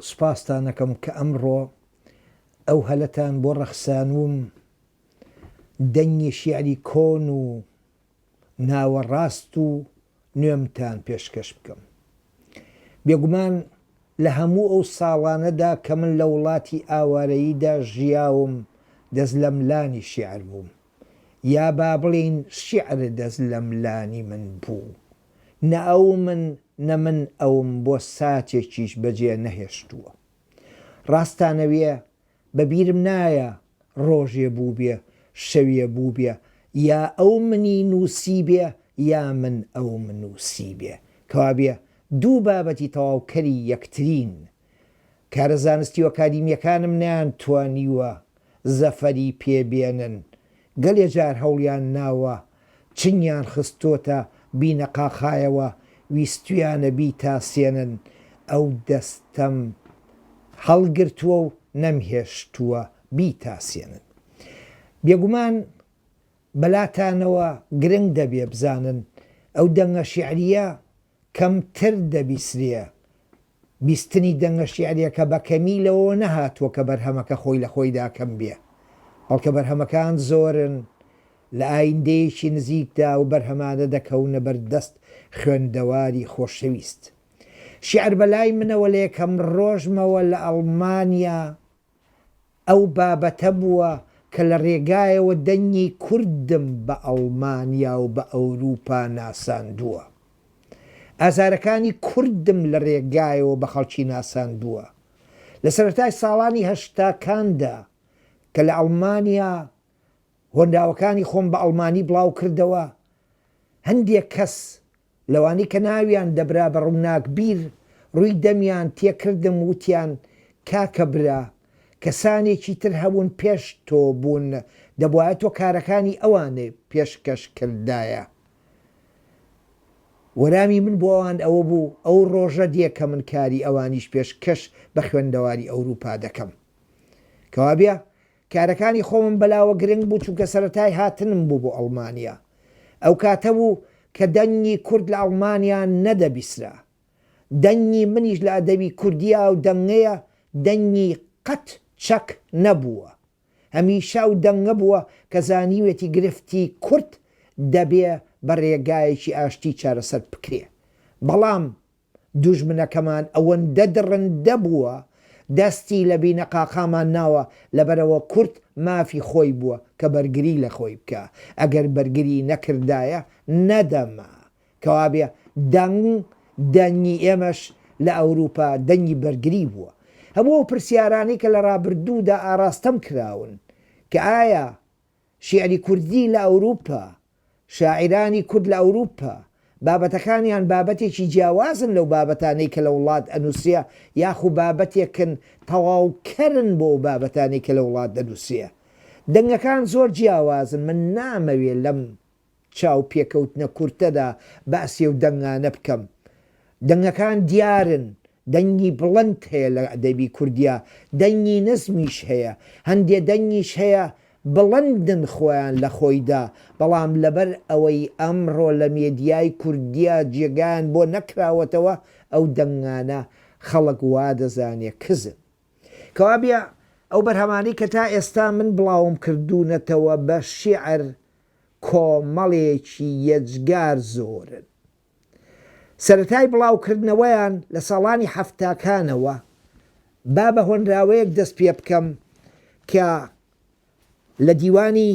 سوپاستان ئەکەم کە ئەمڕۆ ئەو هەلەتان بۆ ڕەخسانووم دەنگی شیعری کۆن و ناوەڕاست و نوێمتان پێشکەش بکەم. بێگومان لە هەموو ئەو ساڵانەدا کە من لە وڵاتی ئاوارەییدا ژیاوم دەست لەملانی شیعر بووم. یا با بڵێین شیعر دەست لەم لانی من بوو، نە ئەو من، نە من ئەوم بۆ ساتێکیش بەجێ نەهێشتووە. ڕاستانەوێ بە بیرم نایە ڕۆژێ بووبێ، شەوێ بووبێ یا ئەو منی نووسیبێ یا من ئەوم نووسیبێ، کەوابێ دوو بابەتی تەواوکەری یەکترین، کارە زانستی و ئەکادیمییەکانم نەیانتوانیوە زەفەری پێ بێنن، گەلێ جار هەوڵیان ناوە، چنگیان خستۆتە بینەقاقایەوە، ویستویانە بیتاسێنن، ئەو دەستەم هەڵگرتووە و نەمهێشتووە بیتاسێنن. بێگومان بەلاتانەوە گرنگ دەبێ بزانن ئەو دەنگە شیعرییە کەمتر دەبیسرێ. بیستنی دەنگە شیعرییەکە بە کەمی لەوەوە نەهاتووە کە بەرهەمەکە خۆی لە خۆیدا کەم بێ، بەڵکە بەرهەمەکان زۆرن، لە ئایندەیەکی نزیکدا ئەو بەرهەمانە دەکەونە بەر دەست خوێندەواری خۆشەویست. شیعر بە لای منەوە لە یەکەم ڕۆژمەوە لە ئەڵمانیا، ئەو بابەتە بووە کە لە رێگایەوە دەنگی کوردم بە ئەڵمانیا و بە ئەوروپا ناساندووە. ئازارەکانی کوردم لە رێگایەوە بە خەڵکی ناساندووە. لە سەرەتای ساڵانی هەشتاکاندا کە لە ئەڵمانیا هۆنراوەکانی خۆم بە ئەڵمانی بڵاوکردەوە، هەندێک کەس لەوانەی کە ناویان دەبرا بە ڕووناکبیر، ڕووی دەمیان تێ کردم، وتیان، کاکە برا، کەسانێکی تر هەبوون پێش تۆ بوون، دەبوایە تۆ کارەکانی ئەوانی پێشکەش کردایە. وەلامی من بۆ ئەوان ئەوە بوو، ئەو ڕۆژە دێ کە من کاری ئەوانیش پێشکەش بە خوێندەواری ئەورووپا دەکەم. کەوابێ کارەکانی خۆمم بەلاوە گرنگ بوو چونکە سەرەتای هاتنم بوو بۆ ئەڵمانیا ئەو کاتە بوو کە دەنگی کورد لە ئەڵمانیا نەدەبیسرا دەنگی منیش لە ئەدەبی کوردیا ئەو دەنگەیە دەنگی قەت چەک نەبووە هەمیشە ئەو دەنگە بووە کە زانیوێتی گرفتی کورد دەبێ بە رێگایەکی ئاشتی چارەسەر بکرێ بەڵام دوژمنەکەمان ئەوەندە دڕندە بووە دەستی لە بینەقاقامان ناوە لەبەرئەوە کورد مافی خۆی بووە کە بەرگری لە خۆی بکا ئەگەر بەرگری نەکردایە نەدەما کەوابێ دەنگ دەنگی ئێمەش لە ئەوروپا دەنگی بەرگری بووە هەموو ئەو پرسیارانەی کە لە ڕابردوودا ئاڕاستەم کراون کە ئایا شیعری کوردی لە ئەوروپا، شاعیرانی کورد لە ئەوروپا، بابەتەکانیان بابەتێکی جیاوازن لەو بابەتانەی کە لە وڵات ئەنووسرێ یاخو بابەتێکن تەواو کەرن بۆ ئەو بابەتانەی کە لە وڵات دەنووسرێ. دەنگەکان زۆر جیاوازن، من نامەوێ لەم چاو پێکەوتنە کورتەدا باسی ئەو دەنگانە بکەم. دەنگەکان دیارن، دەنگی بڵند هەیە لە ئەدەبی کوردیا دەنگی نزمیش هەیە هەندێ دەنگیش هەیە بڵندن خۆیان لە خۆیدا بەڵام لەبەر ئەوەی ئەمڕۆ لە مێدیای کوردیا جێگایان بۆ نەکراوەتەوە ئەو دەنگانە خەڵک وا دەزانێ کزن. کەوابێ ئەو بەرهەمانەی کە تا ئێستا من بڵاوم کردوونەتەوە بە شیعر کۆمەڵێکی یەجگار زۆرن سەرەتای بڵاوکردنەوەیان لە ساڵانی حەفتاکانەوە، با بە هۆنراوەیەک دەست پێبکەم کە لە دیوانی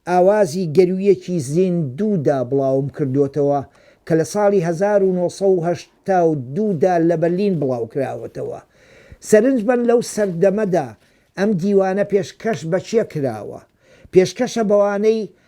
ئاوازی گەروویەکی زیندوودا بڵاوم کردۆتەوە کە لە ساڵی هەزار و نۆ سەد و هەشتا و دوو دا لە بەرلین بڵاوکراوەتەوە. سەرنج بەن لەو سەردەمەدا ئەم دیوانە پێشکەش بە کێ کراوە؟ پێشکەشە بەوانەی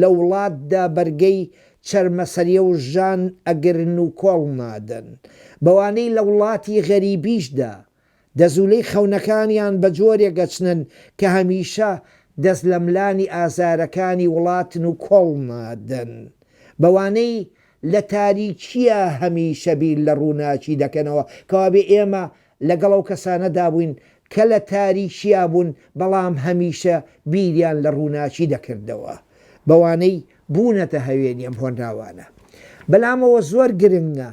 لە وڵاتدا بەرگەی چەرمەسەریە و ژان ئەگرن و کۆڵ نادەن بەوانەی لە وڵاتی غەریبیشدا دەزولەی خەونەکانیان بە جۆرێک ئەچنن کە هەمیشە دەست لەملانی ئازارەکانی وڵاتن و کۆڵ نادەن بەوانەی لە تاریکیە هەمیشە بیر لە ڕوناکی دەکەنەوە کەوابێ ئێمە لەگەڵ ئەو کەسانەدا بووین کە لە تاریکیا بوون، بەڵام هەمیشە بیریان لە ڕووناکی دەکردەوە، بەوانەی بوونەتە هەوێنی ئەم هۆنراوانە. بەلامەوە زۆر گرنگە،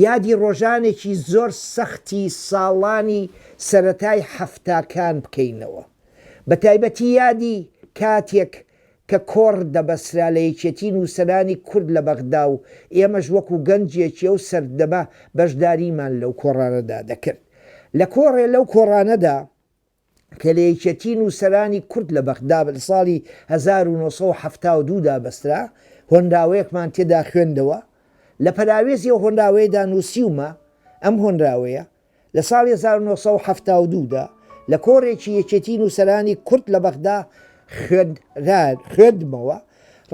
یادی ڕۆژانێکی زۆر سەختی ساڵانی سەرەتای حەفتاکان بکەینەوە، بەتایبەتی یادی کاتێک کە کۆڕ دەبەسرا لە یەکێتی نووسەرانی کورد لە بەغدا و ئێمەش وەکوو گەنجێکی ئەو سەردەمە بەشداریمان لەو کۆڕانەدا دەکرد. لە کۆڕێ لەو کۆڕانەدا کە لە یەکێتی نووسەرانی کورد لە بەغدا لە ساڵی هەزار و نۆ سەد و حەفتا و دوو دا بەسرا، هۆنراوەیەکمان تێدا خوێندەوە. لە پەراوێزی ئەو هۆنراوەیەدا نووسیومە، ئەم هۆنراوەیە، لە ساڵی هەزار و نۆ سەد و حەفتا و دوو دا لە کۆڕێکی یەکێتی نووسەرانی کورد لە بەغدا خوێندمەوە،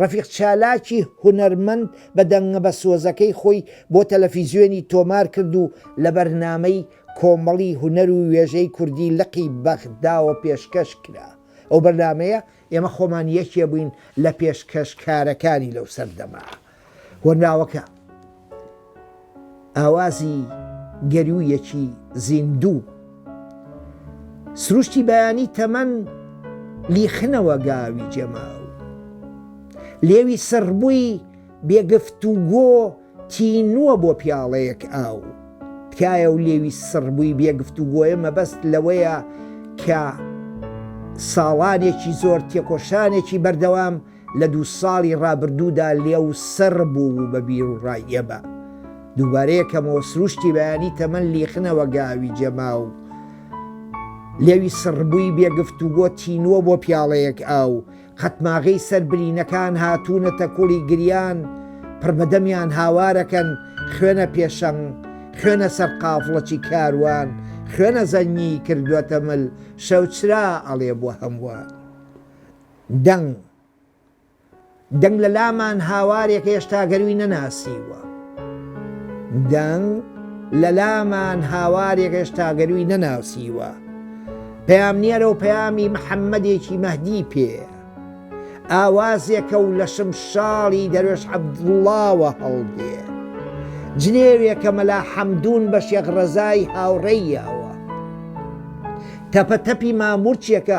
ڕەفیق چالاکی هونەرمەند بە دەنگە بە سۆزەکەی خۆی بۆ تەلەفیزیۆنی تۆمار کرد و لە بەرنامەی کۆمەڵی هونەر و وێژەی کوردی لقی بەغداوە پێشکەش کرا، ئەو بەرنامەیە ئێمە خۆمان یەکێ بووین لە پێشکەشکارەکانی لەو سەردەمە. هۆنراوەکە ئاوازی گەروویەکی زیندوو سروشتی بەیانی تەمەن لیخنەوە گاوی جەماو لێوی سڕبووی بێگفت و گۆ تینووە بۆ پیاڵەیەک ئاو تکایە و لێوی سڕبووی بێگفت و گۆیە مەبەست لەوەیە کە ساڵانێکی زۆر تێکۆشانێکی بەردەوام لە دوو ساڵی ڕابردوودا لێو سڕ بوو و بە بیروڕای ئێمە دووبارە یەکەمەوە سرووشتی بەیانی تەمەن لیخنەوە گاوی جەما و لێوی سڕبووی بێگفتوگۆ تینووە بۆ پیاڵەیەک ئاو قەتماغەی سەر برینەکان هاتوونەتە کوڵی گریان پڕبەدەمیان هاوارەکەن خوێنە پێشەنگ خوێنە سەر قافڵەچی کاروان خوێنە زەنگی کردووەتە مل شەوچرا ئەڵێ بۆ هەمووان. دەنگ، دەنگ لە لامان هاوارێک هێشتا گەرووی نەناسیووە. دەنگ، لە لامان هاوارێک هێشتا گەرووی نەناسیووە. پەیامنێرە و پەیامی محەممەدێکی مەهدی پێیە. ئاوازێکە و لە شمشاڵی دەروێش عەبدوڵڵاوە هەڵدێ. جنێوێکە مەلا حەمدوون بە شێخ ڕەزای هاوڕێیەوە. تەپەتەپی ماموورچێکە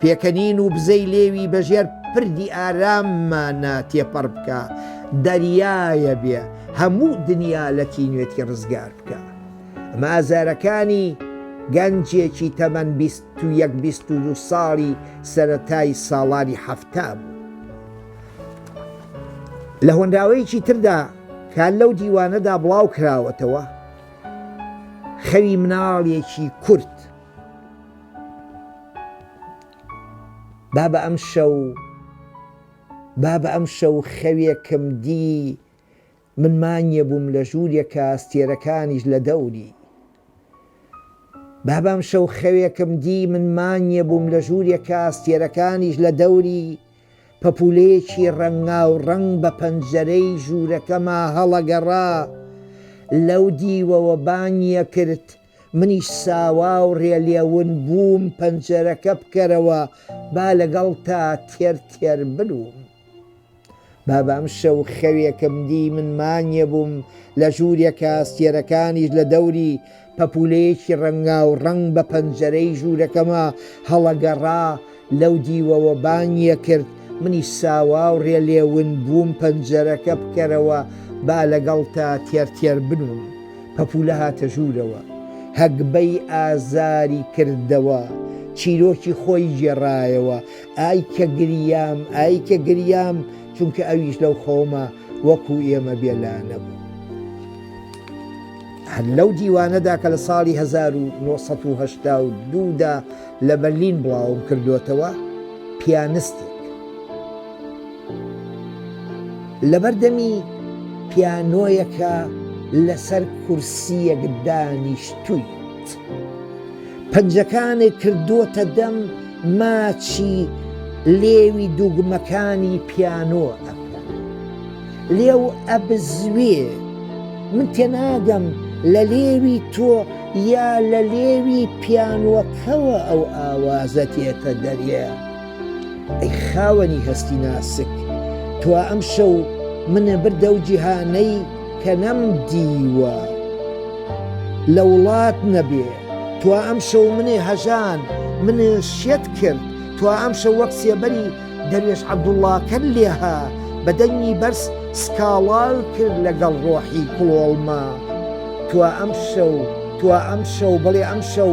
پێکەنین و بزەی لێوی بە ژێر پردی ئاراممانە تێپەڕ بکە، دەریایە بێ هەموو دنیا لە تینوێتی ڕزگار بکە. ئەمە ئازارەکانی گەنجێکی تەمەن بیست و یەک بیست و دوو ساڵی سەرەتای ساڵانی حەفتا بوو. لە هۆنراوەیەکی تردا کە لەو دیوانەدا بڵاو کراوەتەوە، خەوی مناڵێکی کورد، بابە ئەمشەو بابە ئەمشەو خەوێکم دی من مانیە بووم لە ژوورێکا ئەستێرەکانیش لە دەوری بابە ئەمشەو خەوێکم دی من مانیە بووم لە ژوورێکا ئەستێرەکانیش لە دەوری پەپولەیەکی ڕەنگاو ڕەنگ بە پەنجەرەی ژوورەکەما هەڵەگەڕا لەو دیوەوە بانگیەکرد منیش ساوا و رێلێون بووم پەنجەرەکە بکەرەوە با لەگەڵتا تێر تێر برووم. بابە ئەم شەو خەوێکم دی من مانیێ بووم لە ژوورێکا سێرەکانیش لە دەوری پەپولەیەکی رەنگاو رەنگ بە پەنجەرەی ژوورەکەما هەڵەگەڕا لەو دیوەوە بانگیە کرد منیش ساواو رێ لێ ون بووم پەنجەرەکە بکەرەوە با لەگەڵ تا تێر تێر بنووم پەپولە هاتە ژوورەوە هەگبەی ئازاری کردەوە چیرۆکی خۆی گێڕایەوە ئای کە گریام ئای کە گریام چونکە ئەویش لەو خەوما وەکو ئێمە بێ لانە بوو. هەر لەو دیوانەدا کە لە ساڵی 1970 دا لە بەرلین بڵاوم کردۆتەوە پیانستێک لەبەر دەمی پیانۆیەکە لەسەر کورسیەک دانیشتووی پەنجەکانی کردووەتە دەم ماچی لێوی دووگمەکانی پیانۆ ئەکەن لێو ئەبزوێ من تێناگەم لە لێوی تۆ یا لە لێوی پیانوەکەوە ئەو ئاوازە تێتە دەرێ ئەی خاوەنی هەستی ناسک تو ئەم شەو منە بردە و جیهانەی کە نەم دیوە لە وڵات نەبێ تو ئەم شەو منێ هەژان منێ شێت کرد تو ئەم شەو وەک سێبەری دەروێش عەبدوڵڵا کەر لێهە بە دەنگی بەرز سکاڵای کرد لەگەڵ ڕۆحی کڵۆڵمە، تۆ ئەمشەو، تۆ ئەمشەو، بەڵێ ئەمشەو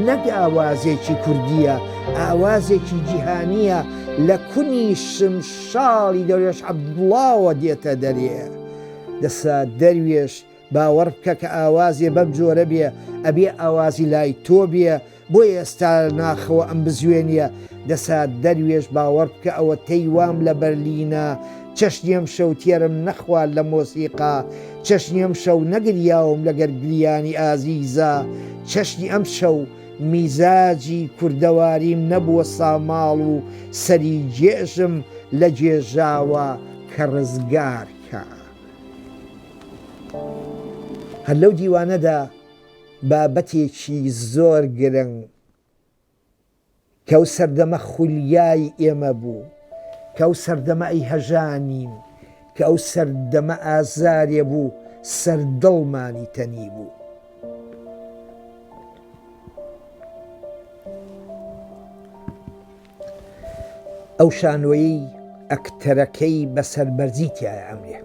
نەک ئاوازێکی کوردییە، ئاوازێکی جیهانییە لە کونی شمشاڵی دەروێش عەبدوڵڵاوە دێتە دەرێ. دەسا دەروێش. باوەڕ بکە کە ئاوازێ بەم جۆرە بێ ئەبێ ئاوازی لای تۆ بێ بۆیە ئێستا ناخەوە ئەم بزوێنیە دەسا دەروێش باوەڕ بکە ئەوە تەی وام لە بەرلینە چەشنی ئەم شەو تێرم نەخوارد لە مۆسیقا چەشنی ئەم شەو نەگریاوم لەگەر گریانی ئازیزا چەشنی ئەم شەو میزاجی کوردەواریم نەبووە ساماڵ و سەری جێژم لە جێژاوە کە ڕزگار کە. هەر لەو دیوانەدا بابەتێکی زۆر گرنگ کەو سەردەمە خولیای ئێمە بوو کەو سەردەمە ئەی هەژانین کە ئەو سەردەمە ئازارێ بوو سەردڵمانی تەنی بوو. ئەو شانۆیەی ئەکتەرەکەی بە سەربەرزی تیایە ئەمرێ.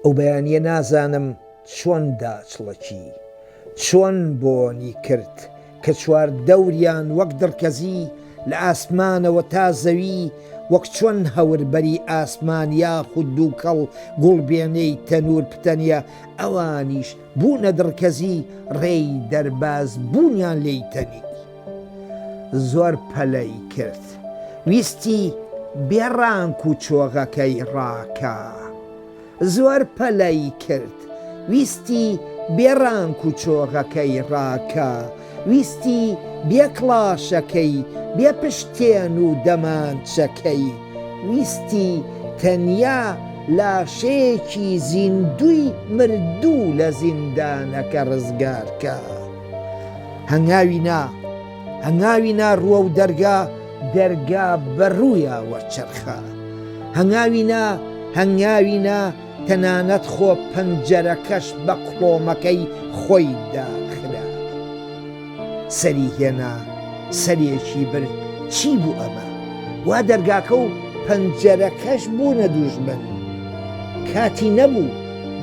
ئەو بەیانیە نازانم چۆن داچڵەکی، چۆن بۆنی کرد کە چوار دەوریان وەک دڕکەزی لە ئاسمانەوە تا زەوی وەک چۆن هەوربەری ئاسمان یاخود دووکەڵ گوڵبێنەی تەنور پتەنیە ئەوانیش بوونە دڕکەزی ڕێی دەرباز بوونیان لێی تەنی زۆر پەلەی کرد ویستی بێ ڕانک و چۆغەکەی ڕاکا زۆر پەلەی کرد ویستی بێ ڕانک و چۆغەکەی ڕاکا ویستی بێ کڵاشەکەی، بێ پشتێن و دەمانچەکەی، ویستی تەنیا لاشەیەکی زیندووی مردوو لە زیندانەکە ڕزگار کات. هەنگاوی نا، هەنگاوی نا ڕووە و دەرگا، دەرگا بە ڕوویا وەرچەرخا. هەنگاوی نا، هەنگاوی نا. تەنانەت خۆ پەنجەرەکەش بە کڵۆمەکەی خۆی داخرا. سەری هێنا سەرێکی برد، چی بوو ئەمە؟ وا دەرگاکە و پەنجەرەکەش بوونە دوژمن. کاتی نەبوو،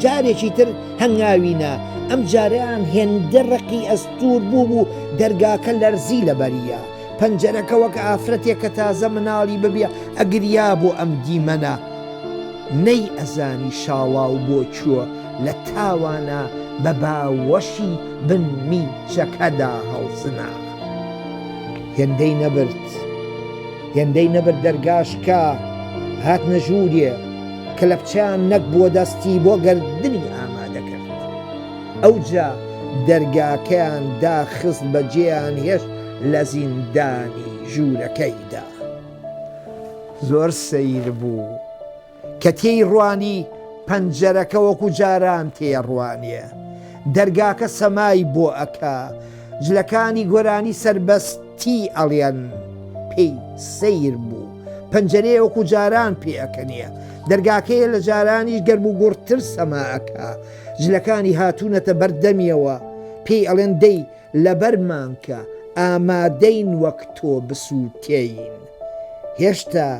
جارێکی تر هەنگاوی نا، ئەمجارەیان هێندە ڕقی ئەستوور بوو بوو دەرگاکە لەرزی لەبەریا. پەنجەرەکە وەک ئافرەتێک کە تازە مناڵی ببێ ئەگریا بۆ ئەم دیمەنە نەی ئەزانی شاڵاو بۆ چووە لە تاوانە بە باوەشی بن میچەکەدا هەڵسنا هێندەی نەبرد هێندەی نەبرد دەرگاشکا هاتنە ژووریێ کەلەپچەیان نەک بووە دەستی بۆ گردنی ئامادەکرد ئەوجا دەرگاکەیان داخست بەجێیان هێشت لە زیندانی ژوورەکەیدا زۆر سەیر بوو کە تێی ڕوانی پەنجەرەکە وەکو جاران تێڕوانیە دەرگاکە سەمای بۆ ئەکا جلەکانی گۆرانی سربەستی ئەڵێن پێی سەیر بوو پەنجەرەیە وەکو جاران پێەکەنیە دەرگاکەیە لە جارانیش گەرم و گوڕتر سەماکە جلەکانی هاتوونەتە بەردەمیەوە پێی ئەڵێن دەی لەبەرمان کە ئامادەین وەک تۆ بسووتێین. هێشتا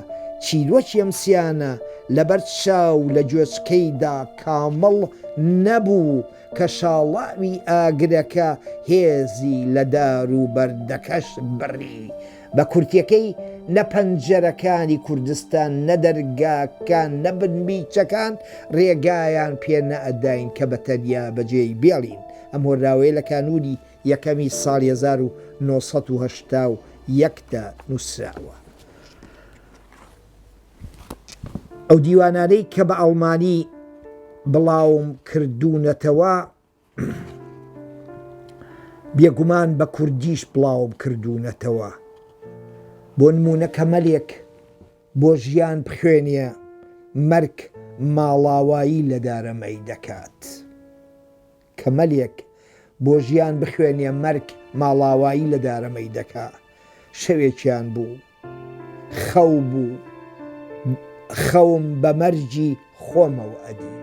چیرۆکی ئەم سیانە لەبەر چاو لە گوێچکەیدا کامڵ نەبوو کە شاڵاوی ئاگرەکە هێزی لە دار و بەردەکەش بڕی. بە کورتیەکەی نە پەنجەرەکانی کوردستان نە دەرگاکان نە بنمیچەکان رێگایان پێ نەئەداین کە بە تەنیا بە جێی بێڵین ئەم هۆنراوەیە لە کانوونی یەکەمی ساڵی هەزار و نۆ سەد و هەشتا و یەک دا نووسراوە. ئەو دیوانانەی کە بە ئەڵمانی بڵاوم کردوونەتەوە، بێگومان بە کوردیش بڵاوم کردوونەتەوە بۆ نموونە کە مەلێک بۆ ژیان بخوێنیە مەرگ ماڵاوایی لە دارەمەی دەکات کە مەلێک بۆ ژیان بخوێنیە مەرگ ماڵاوایی لە دارەمەی دەکا شەوێکیان بوو خەو بوو خەوم بە مەرگی خۆمەوە ئەدی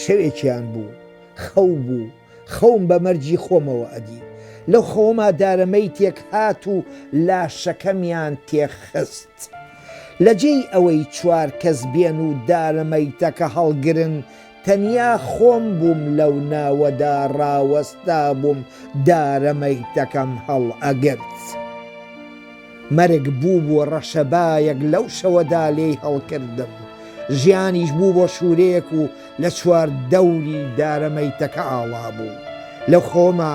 شەوێکیان بوو خەو بوو خەوم بە مەرگی خۆمەوە ئەدی لەو خەوما دارەمەی تێک هات و لاشەکەمیان تێخست لە جێی ئەوەی چوار کەس بێن و دارەمەیتەکە هەڵگرن تەنیا خۆم بووم لەو ناوەدا ڕاوەستابووم دارە مەیتەکەم هەڵئەگرت. مەرگ بوو بۆ ڕەشەبایەک لەو شەوەدا لێی هەڵکردم. ژیانیش بوو بۆ شوورەیەک و لە چواردەوری دارە مەیتەکە ئاڵابوو. لە خۆما.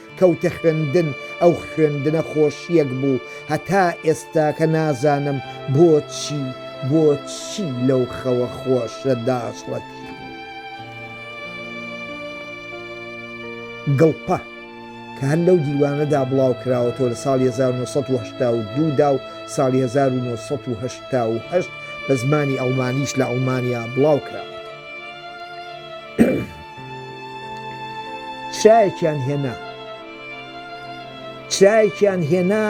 کەوتە خوێندن ئەو خوێندنە خۆشیەک بوو هەتا ئێستاکە نازانم بۆچی بۆچی لەو خەوە خۆشە داخڵەتی گڵپە کە هەر لەو دیوانەدا بڵاو کراوەتەوە لە ساڵی 1970 دا و ساڵی 1970 بە زمانی ئەڵمانیش لە ئەڵمانیا بڵاو کراوە چرایەکیان هێنا چرایەکیان هێنا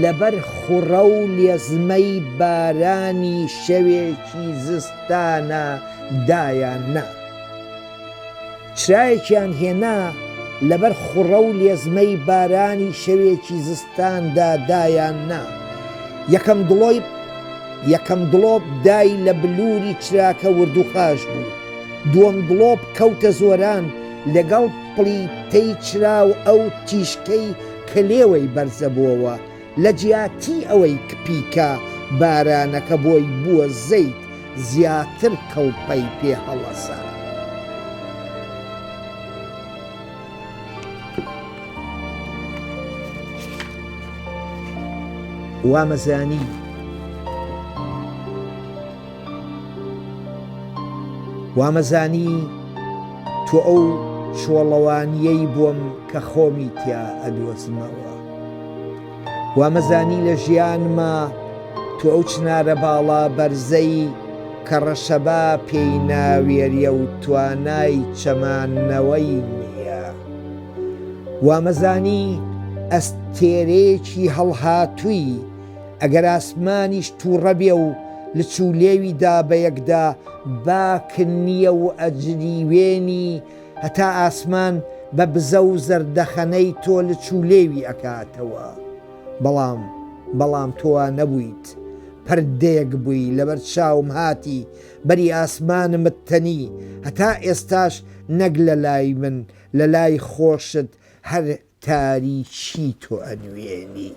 لەبەر خوڕە و لێزمەی بارانی شەوێکی زستانە دایان نا چرایەکیان هێنا لەبەر خوڕە و لێزمەی بارانی شەوێکی زستاندا دایان نا یەکەم دڵۆی یەکەم دڵۆپ دای لە بلووری چراکە وردوخاش بوو دووەم گڵۆپ کەوتە زۆران لەگەڵ پڵیتەی چراو ئەو تیشکەی کە لێوەی بەرزەبۆوە لە جیاتی ئەوەی کپیکا بارانەکە بۆی بووە زەیت زیاتر کڵپەی پێ هەڵەسا. وامەزانی. وامەزانی تۆ ئەو چۆڵەوانییەی بووم کە خۆمی تیا ئەدۆزمەوە. وامەزانی لە ژیانما تۆ ئەو چنارە باڵا بەرزەی کە ڕەشەبا پێی ناوێریە و توانای چەماننەوەی نییە. وامەزانی ئەستێرەیەکی هەڵهاتووی، ئەگەر ئاسمانیش توڕە بێ و لچ و لێوی دا بە یەکدا باک نییە و ئەجریوێنی هەتا ئاسمان بە بزە و زەردەخەنەی تۆ لچ و لێوی ئەکاتەوە. بەڵام بەڵام تۆ وا نەبوویت. پردێک بووی لەبەر چاوم هاتی بەری ئاسمانمت تەنی هەتا ئێستاش نەک لە لای من لە لای خۆشت هەر تاریکی تۆ ئەنوێنی.